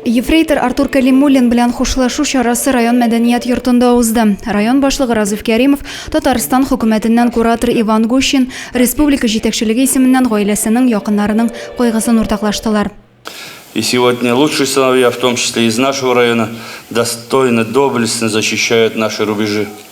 Ефрейтор Артур Кәлимуллин белән хушлашу чарасы район мәдәният йортында узды. Район башлыгы Разиф Кәримов, Татарстан хөкүмәтеннән куратор Иван Гущин, республика җитәкчелеге исеменнән гаиләсенең, якыннарының кайгысын уртаклаштылар. И сегодня лучшие сыновья, в том числе и из нашего района, достойно, доблестно защищают наши рубежи.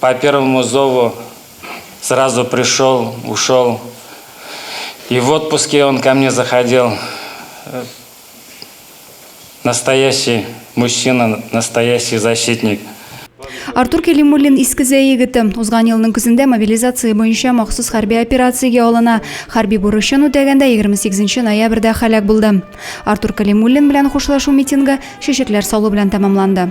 По первому зову сразу пришел, ушел. И в отпуске он ко мне заходил. Настоящий мужчина, настоящий защитник. Артур Кәлимуллин Искезә егете. Узган елның көзендә мобилизация буенча махсус хәрби операциягә алына. Хәрби бурычын үтәгәндә 28 ноябрьдә һәлак булды. Артур Кәлимуллин белән хушлашу митингы чәчәкләр салу белән тәмамланды.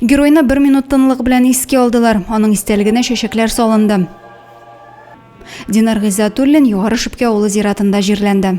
Геройны бер минут тынлык белән искә алдылар. Аның истәлегенә чәчәкләр салынды. Динар Гыйззатуллин Югары Шүпкә авылы зиратында җирләнде.